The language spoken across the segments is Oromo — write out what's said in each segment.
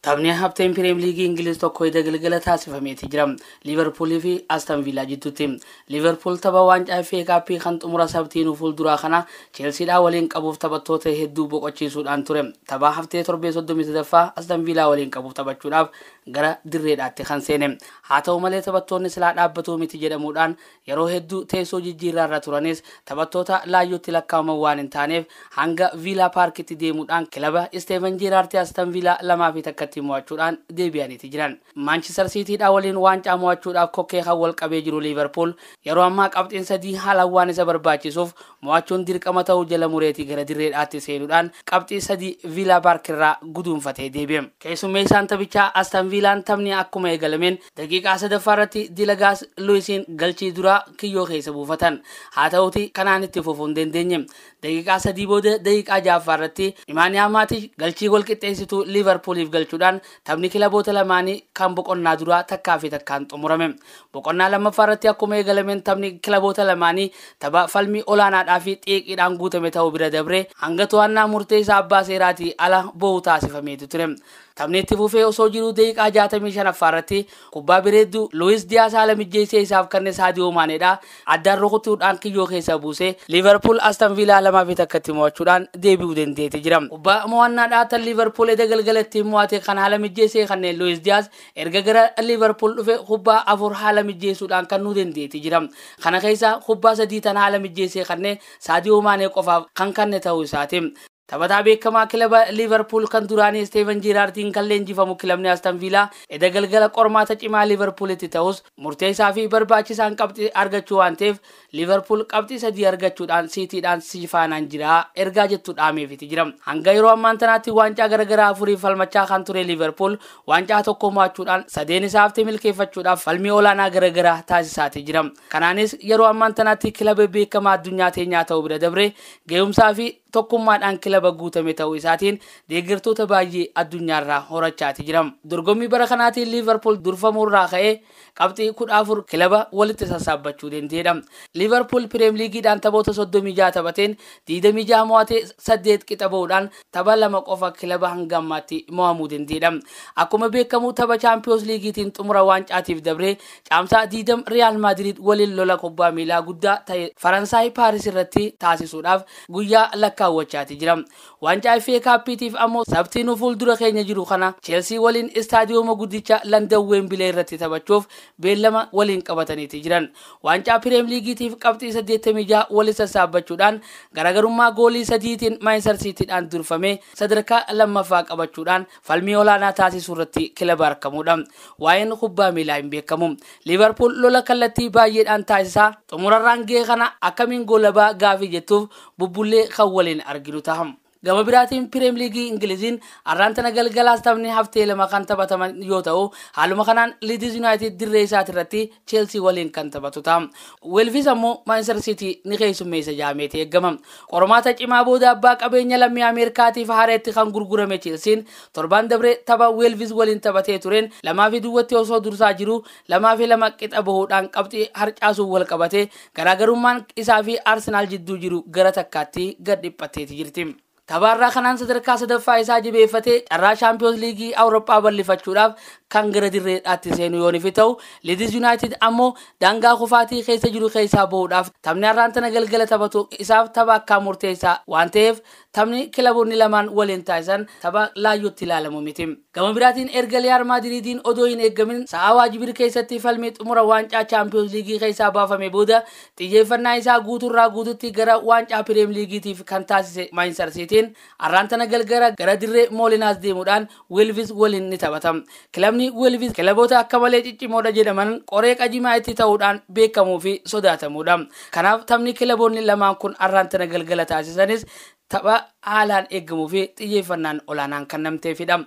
Taphni hafteen piriim liigii Ingiliz tokko hidda galgala taasifameeti jira. Liiverpuulii fi Aston Viilaa jidduutti. Liiverpuul tapha waancaa FA Cup kan xumura sabtiinuu fuulduraa kana Cheelsiidhaa waliin qabuuf taphattoota hedduu boqochiisuudhaan ture. Tapha haftee torbee 33ffaa Aston Viilaa waliin qabuuf taphachuudhaaf gara dirreedhaatti kan seene. Haa ta'u malee taphattoonni silaa dhaabbatuu miti jedhamuudhaan Yeroo hedduu teessoo jijjiirraa irra turanis taphattoota laayyootti lakkaa'aman waan hin taaneef hanga Viilaa Paarkitti deemuudhaan kilaba Isteevan Jeeraarti Astan Viilaa 2 fi 1tti mo'achuudhaan deebi'aniiti jiran. Maanchistar Siitiidhaa waliin waancaa mo'achuudhaaf kokkee kan wal qabee jiru Liiverpuul yeroo ammaa qabxiin sadii haalaan waan isa barbaachisuuf mo'achuun dirqama ta'uu jala mureeti gara dirreedhaatti seenuudhaan qabxii sadii Viilaa Paarkirraa guduunfatee deebi'e. Keessummeessaan taphichaa Astan Viilaan taphni akkuma eegalameen Daqiiqaa sadaffaa irratti Dilagaas Luwisiin galchii duraa kiyyoo keessa buufatan. Haa ta'uutii kanaan itti fufuu hin dandeenye. Daqiiqaa sadii booda daqiiqaa ja'affaa irratti Imaaniyaa Maatish galchii gol qixxeessituu Liivarpuuliif galchuudhaan taphni kilaboota lamaanii kan boqonnaa duraa takkaa fi takkaan xumurame. Boqonnaa lammaffaa irratti akkuma eegalameen taphni kilaboota lamaanii tapha falmii olaanaadhaa fi xiiqiidhaan guutame ta'uu bira dabree hanga to'annaa murteessaa abbaa seeraatii ala boo'u taasifameetu ture. Taphni itti fufee osoo jiruu daqiiqaa 65ffaa irratti kubbaa bireeddu Luwis Diyaas haala mijjeessee isaaf kanne Saadiyoo Maaneedha addaan rukutuudhaan kiyyoo keessa buuse Liiverpuul Aston Viilaa 2 fi 1tti mo'achuudhaan deebi'uu dandeete jira. Kubbaa mo'annaadhaa tan Liiverpuul eda galgalattiin mo'ate kan haala mijjeessee kanne Luwis Diyaas erga gara Liiverpuul dhufe kubbaa afur haala mijjeessuudhaan kannuu dandeete jira. Kana keessaa kubbaa sadii tan haala mijjeessee kanne Saadiyoo Maanee qofaaf kan kanne ta'uu isaati. Taphataa beekamaa kilaba Liivarpuul kan duraanii Isteevan Jiiraardiin kan leenjifamu kilabni Aston Viilaa eda galgala qormaata cimaa Liivarpuulitti ta'us murteessaa fi barbaachisaan qabxii argachuu waan ta'eef Liivarpuul qabxii sadii argachuudhaan Siitiidhaan sifaanaan jira ergaa jettu dhaameefiti jira. Hanga yeroo ammaan tanaatti waancaa garagaraa afuriif falmachaa kan ture Liivarpuul waancaa tokko mo'achuudhaan sadeen isaa hafte milkeeffachuudhaaf falmii olaanaa garagaraa taasisaati jira. Kanaanis yeroo ammaan tanaatti kilaba beekamaa addunyaa teenyaa ta'uu bira dabree ga'umsaa fi tokkummaadhaan kilaba guutame ta'uu isaatiin deeggartoota baay'ee addunyaarraa horachaati jira. Dorgommii bara kanaatiin Liivarpuul durfamuurraa ka'ee qabxii kudha afur kilaba walitti sassaabbachuu danda'eedha. Liivarpuul Pireem Liigiidhaan taphoota soddomii jaha taphateen digdamii jaha mo'atee saddeet qixa ba'uudhaan tapha lama qofa kilaba hanga ammaatti mo'amuu danda'eedha. Akkuma beekamu tapha Chaampiyoons Liigiitiin xumura waancaatiif dabree Caamsaa 20 Riyaal Maadiriid waliin lola kubbaa miilaa guddaa ta'e Faransaay Paaris irratti taasisuudhaaf guyyaa lakkaawwachaati jira. Waancaa FA Kaappiitiif ammoo Sabtii nu fuuldura keenya jiru kana Cheelsii waliin istaadiyooma guddicha Landan Weembilee irratti taphachuuf beellama waliin qabataniiti jiran. Waancaa Pireem Liigiitiif qabxii 86 wali sassaabbachuudhaan garagarummaa goolii sadiitiin Maanchistar Siitiidhaan durfamee sadarkaa lammaffaa qabachuudhaan Falmii olaanaa taasisuu irratti kilaba argamuudha. Waa'een kubbaa miilaa hin beekamu. Liivarpuul lola kallattii baay'eedhaan taasisa. Xumurarraan ga'e kana akkamiin goolaba gaafii jettuuf bubbullee kan waliin arginu taha. Gama biraatiin Pireem Liigii Ingiliziin arraan tana galgalaas taphni haftee lama kan taphataman yoo ta'u, haaluma kanaan Liidiz Yunaayitid dirree isaatirratti Cheelsii waliin kan taphatu ta'a. Weelvis ammoo Maanchester Siitii ni keessummeessa jedhameeti eegama. Qormaata cimaa booda abbaa qabeenya lammii Ameerikaatiif haareetti kan gurgurame Cheelsiin torbaan dabree tapha Weelvis waliin taphatee tureen lamaa fi duwwatti osoo dursaa jiruu lamaa fi lama qixa bahuudhaan qabxii harcaasuun wal qabatee garaagarummaan isaa fi Arsenaal jidduu jiru gara takkaatti gad dhiphatteeti jirti. Taphaarraa kanaan sadarkaa sadaffaa isaa jibeeffatee carraa shaampiyoons liigii Awurooppaa bal'ifachuudhaaf kan gara dirree dhaatti seenu yoonifi ta'u Liidis Yuunaayitid ammoo daangaa kufaatii keessa jiru keessaa ba'uudhaaf taphni har'aan tana galgala taphatu isaaf tapha akkaan murteessaa waan ta'eef taphni kilaboonni lamaan waliin taasisan tapha laayyootti ilaalamu miti. Gama biraatiin erga Riyaal Maadiriidiin odoo hin eeggamin sa'aa waajibir keessatti falmii xumura waancaa Chaampiyoons Liigii keessaa baafamee booda xiyyeeffannaa isaa guuturraa guututti gara waancaa Pireem Liigiitiif kan taasise Maanchistar Siitiin arraan tana galgala gara dirree Moolinaas deemuudhaan Weelvis waliin ni taphata. Kilabni Weelvis kilaboota akka malee ciccimoodha jedhaman qoree qajimaa itti ta'uudhaan beekamuu fi sodaatamuudha. Kanaaf taphni kilaboonni lamaan kun arraan tana galgala taasisanis Tapha haalaan eegamuufi xiyyeeffannaan olaanaan kannamteefidha.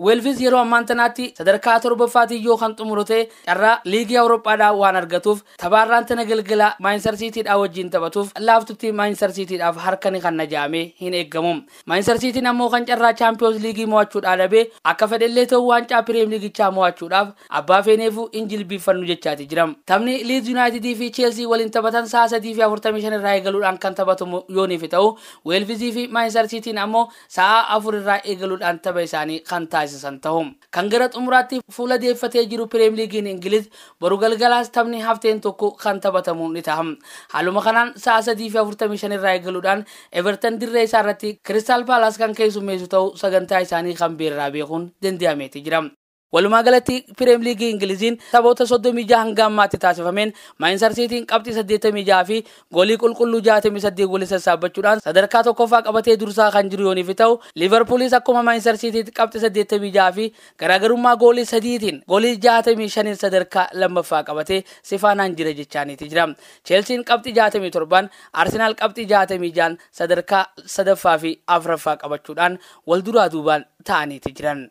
Weelvis yeroo ammaan tanaatti sadarkaa torbaffaatiin yoo kan xumuru ta'e carraa liigii Awuroophaadhaa waan argatuuf tapha har'aan tana galgala Maanchistar Siitiidhaa wajjiin taphatuuf laaftutti Maanchistar Siitiidhaaf harka ni kanna ja'amee hin eegamu. Maanchistar Siitiin ammoo kan carraa Chaampiyoons Liigii mo'achuudhaa dhabe akka fedhellee ta'u waancaa Piriyeem Liigichaa mo'achuudhaaf Abbaa feeneefuu hin jilbiiffannu jechaati jira. Taphni Liids Yunaayitidii fi Cheelsii waliin taphatan sa'a 3:45 irraa eegaluudhaan kan taphatamu yooniifi ta'u, Weelvizii fi Maanchistar Siitiin ammoo sa'a 4 irraa eegaluudhaan tapha isaanii kan taasisan ta'u. Kan gara xumuraatti fuula deeffatee jiru Pireem Liigiin Ingiliz boru galgalaas taphni hafteen tokko kan taphatamu ni taha. Haaluma kanaan sa'a 3:45 irraa eegaluudhaan Evertan dirree isaa irratti Kiristaal Paalaas kan keessummeessu ta'u sagantaa isaanii kan beerraa beekuun danda'ameeti jira. Walumaa galatti Pireem Liigii Ingiliziin taphoota 36 hanga ammaatti taasifameen Maayinsar Siitiin qabxii 86 fi goolii qulqulluu 68 waliin sassaabbachuudhaan sadarkaa tokkoffaa qabatee dursaa kan jiru yooniif ta'u Liivarpuulis akkuma Maayinsar Siitiitti qabxii 86 fi garaagarummaa goolii sadiitiin goolii 65n sadarkaa lammaffaa qabatee sifaanaan jira jechaaniiti jira. Cheelsiin qabxii 67n Arsenaal qabxii 66n sadarkaa sadaffaa fi afraffaa qabachuudhaan wal duraa duubaan ta'aniiti jiran.